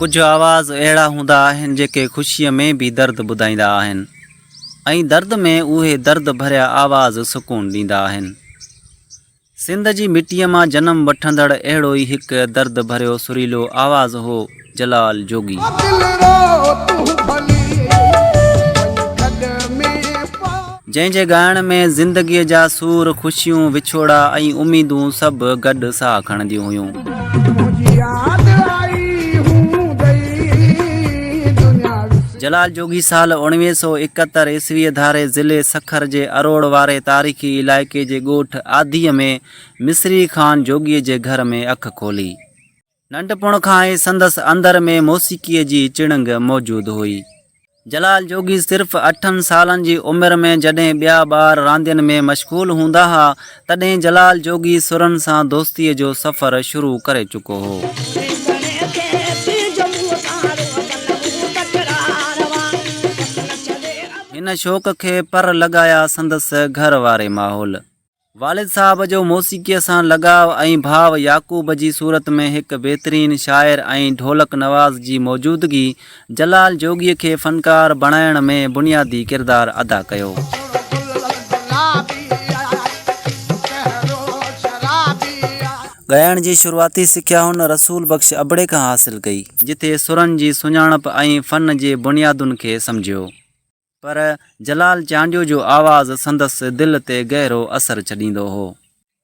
ڪجهه آواز اهڙا هوندا آهن جيڪي خوشيء ۾ به درد ٻڌائيندا آهن ۽ درد ۾ اهي درد ڀريا آواز سڪون ڏيندا آهن. سنڌ جي مٽيء مان جنم وٺندڙ اهڙو ئي هڪ درد ڀريو سريلو آواز هو جلال جوڳي. جنهن جي ڳائڻ ۾ زندگيء جا سور، خوشيون، وڇوڙا ۽ اميدون سڀ گڏ ساهه کڻنديون هيون. جلال جوڳي سال اوڻويهه سؤ ايڪهتر عيسويء ڌاري ضلعي سکر جي اروڙ واري تاريخي علائقي جي ڳوٺ آڌيء ۾ مصري خان جوڳيء جي گهر ۾ اک کولي. ننڍپڻ کان ئي سندس اندر ۾ موسيقيء جي چڻنگ موجود هئي. جلال جوڳي صرف اٺن سالن جي عمر ۾ جڏهن ٻيا ٻار راندين ۾ مشغول هوندا ها، تڏهن جلال جوڳي سرن سان دوستيء جو سفر شروع ڪري چڪو هو. هن شوق کي پر لڳايا سندس گهر واري ماحول. والد صاحب جو موسيقيء سان لڳاء ۽ ڀاء يعقوب جي صورت ۾ هڪ بهترين شاعر ۽ ڍولڪ نواز جي موجودگي جلال جوڳيء کي فنڪار بڻائڻ ۾ بنيادي ڪردار ادا ڪيو. ڳائڻ جي شروعاتي سکيا هن رسول بخش ابڙي کان حاصل ڪئي. جتي سرن جي سڃاڻپ ۽ فن جي بنيادن کي سمجهيو. پر جلال چانڊيو جو آواز سندس دل تي گهرو اثر ڇڏيندو هو.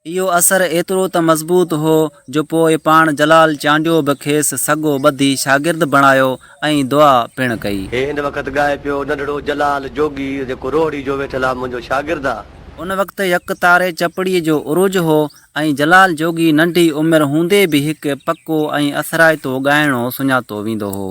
اهو اثر ايترو ته مضبوط هو جو پوء پاڻ جلال چانڊيو به کيس سڳو ٻڌي شاگرد بڻايو ۽ دعا پڻ ڪئي. هي هن وقت ڳائي پيو، ننڍڙو جلال جوڳي، جيڪو روهڙي جو ويٺل آ، منهنجو شاگرد آ. ان وقت يڪتاري چپڙي جو عروج هو ۽ جلال جوڳي ننڍي عمر هوندي به هڪ پڪو ۽ اثرائتو ڳائڻو سڃاتو ويندو هو.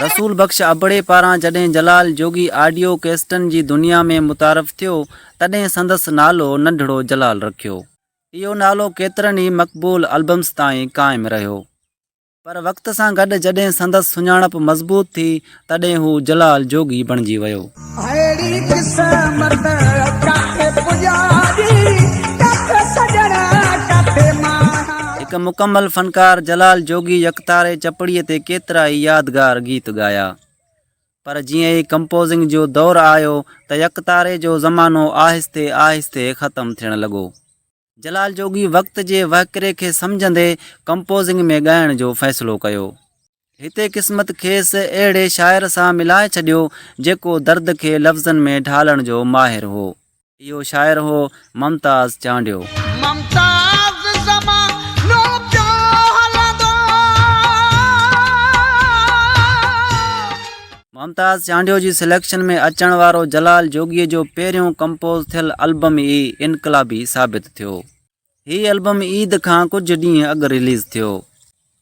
رسول بخش ابڙي پاران جڏهن جلال جوڳي آڊيو ڪيسٽن جي دنيا ۾ متعارف ٿيو تڏهن سندس نالو ننڍڙو جلال رکيو. اهو نالو ڪيترن ئي مقبول البمز تائين قائم رهيو. پر وقت سان گڏ جڏهن سندس سڃاڻپ مضبوط ٿي، تڏهن هو جلال جوڳي بڻجي ويو. اهڙي قسمت ڪاٿي پڄاري، ڪاٿي سڄڻ ڪاٿي ماڻهان. هڪ مڪمل فنڪار جلال جوڳي يڪتاري چپڙي تي ڪيترائي يادگار گيت ڳايا. پر جيئن ئي ڪمپوزنگ جو دور آيو ته يڪتاري جو زمانو آهستي آهستي ختم ٿيڻ لڳو. جلال جوڳي وقت جي وهڪري کي سمجهندي ڪمپوزنگ ۾ ڳائڻ جو فيصلو ڪيو. هتي قسمت کيس اهڙي شاعر سان ملائي ڇڏيو، جيڪو درد کي لفظن ۾ ڍالڻ جو ماهر هو. اهو شاعر هو ممتاز چانڊيو. ممتاز زمانو پيو هلندو. ممتاز چانڊيو جي سليڪشن ۾ اچڻ وارو جلال جوڳي جو پهريون ڪمپوز ٿيل البم ئي انقلابي ثابت ٿيو. هي البم عيد کان ڪجهه ڏينهن اڳ رليز ٿيو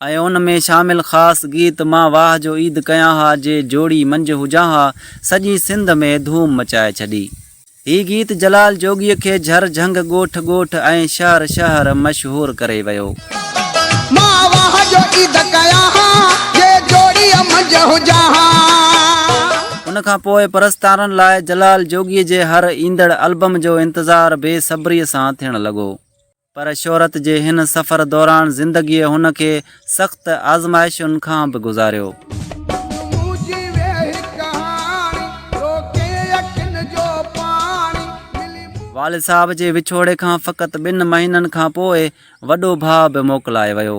۽ ان ۾ شامل خاص گيت مان واهه جو عيد ڪيان ها جي جوڙي منجهه هجان ها سڄي سنڌ ۾ ڌوم مچائي ڇڏي. هي گيت جلال جوڳيء کي جھر جھنگ، ڳوٺ ڳوٺ ۽ شهر شهر مشهور ڪري ويو. مان واهه جو عيد ڪيان ها، جي جوڙيء منجهه هجان ها. ان کان پوء پرستارن لاء جلال جوڳيء جي هر ايندڙ البم جو انتظار بي صبريء سان ٿيڻ لڳو. پر شهرت جي هن سفر دوران زندگيء هن کي سخت آزمائشن کان به گذاريو. والد صاحب جي وڇوڙي کان فقط ٻن مهينن کان پوء وڏو ڀاء به موڪلائي ويو.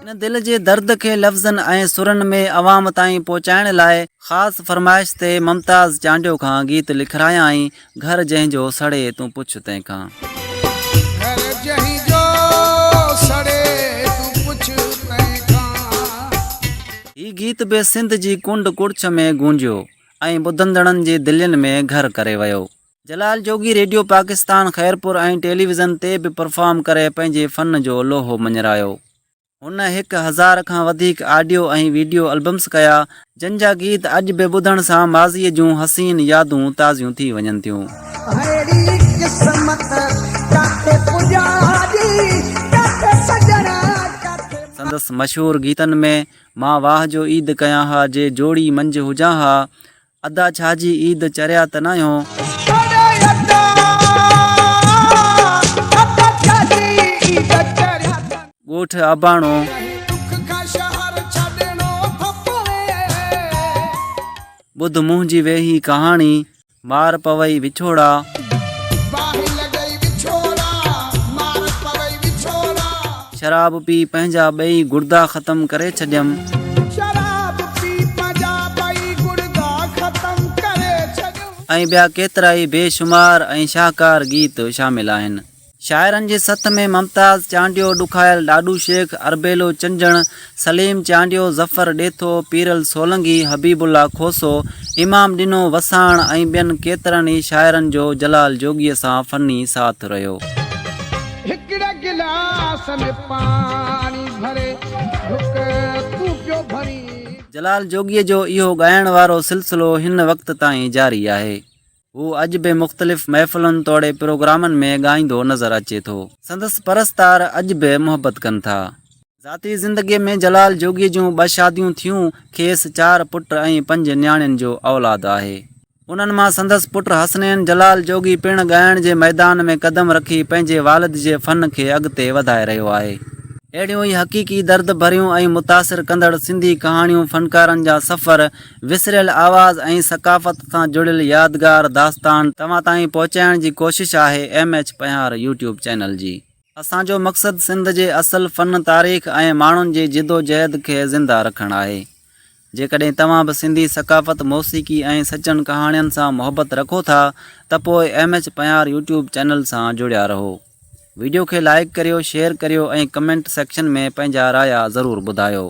ان دل جي درد کي لفظن ۽ سرن ۾ عوام تائين پهچائڻ لاء خاص فرمائش تي ممتاز چانڊيو کان گيت لکرايائين، گهر جنهن جو سڙي تون پڇ تنهن کان. گهر جنهن جو سڙي تون پڇ تنهن کان. هي گيت به سنڌ جي ڪنڊ ڪڙڇ ۾ گونجيو ۽ ٻڌندڙن جي دلين ۾ گهر ڪري ويو. جلال جوڳي ريڊيو پاڪستان خيرپور ۽ ٽيليويزن تي به پرفارم ڪري پنهنجي فن جو لوهو مڃرايو. هن هڪ هزار کان وڌيڪ آڊيو ۽ ويڊيو البمز ڪيا، جن جا گيت اڄ به ٻڌڻ سان ماضيء جون حسين يادون تازيون ٿي وڃن ٿيون. سندس مشهور گيتن ۾ مان واهه جو عيد ڪيان ها، جي جوڙي منجهه هجان ها، ادا ڇا جي عيد چريا ته ناهيو. ڳوٺ اباڻو. ٻڌ منهنجي ويهي ڪهاڻي. مار پوي وڇوڙا. شراب پي پنهنجا ٻئي گڙدا ختم ڪري ڇڏيم. شراب پي پنهنجا ٻئي گڙدا ختم ڪري ڇڏيم. ۽ ٻيا ڪيترائي بي شمار ۽ شاهڪار گيت شامل آهن. شاعرن جي سٿ ۾ ممتاز چانڊيو، ڏکايل ڏاڏو شيخ، اربيلو چنجڻ، سليم چانڊيو، ظفر ڏيٿو، پيرل سولنگي، حبيب الله کوسو، امام ڏنو، وساڻ ۽ ٻين ڪيترن ئي شاعرن جو جلال جوڳيء سان فني ساٿ رهيو. هڪڙي گلاس ۾ پاڻي ڀري ڍڪ تون پيو ڀرين. جلال جوڳيء جو اهو ڳائڻ وارو سلسلو هن وقت تائين جاري آهي. هو اڄ به مختلف محفلن توڙي پروگرامن ۾ ڳائيندو نظر اچي ٿو. سندس پرستار اڄ به محبت ڪن ٿا. ذاتي زندگيء ۾ جلال جوڳيء جون ٻه شاديون ٿيون. کيس چار پٽ ۽ پنج نياڻين جو اولاد آهي. انهن مان سندس پٽ حسنين جلال جوڳي پڻ ڳائڻ جي ميدان ۾ قدم رکي پنهنجي والد جي فن کي اڳتي وڌائي رهيو آهي. اهڙيون ئي حقيقي درد ڀريون ۽ متاثر ڪندڙ سنڌي ڪهاڻيون فنڪارن جا سفر وسريل آواز ۽ ثقافت سان جڙيل يادگار داستان توهان تائين پهچائڻ جي ڪوشش آهي M H Panhwar YouTube channel جي. اسان جو مقصد سنڌ جي اصل فن تاريخ ۽ ماڻهن جي جدوجهد کي زنده رکڻ آهي. جيڪڏهن توهان به سنڌي ثقافت، موسيقي ۽ سچن ڪهاڻين سان محبت رکو ٿا ته پوء M H Panhwar YouTube channel سان جڙيا رهو. ويڊيو کي لائيڪ ڪريو، شيئر ڪريو ۽ ڪمينٽ سيڪشن ۾ پنهنجا رايا ضرور ٻڌايو.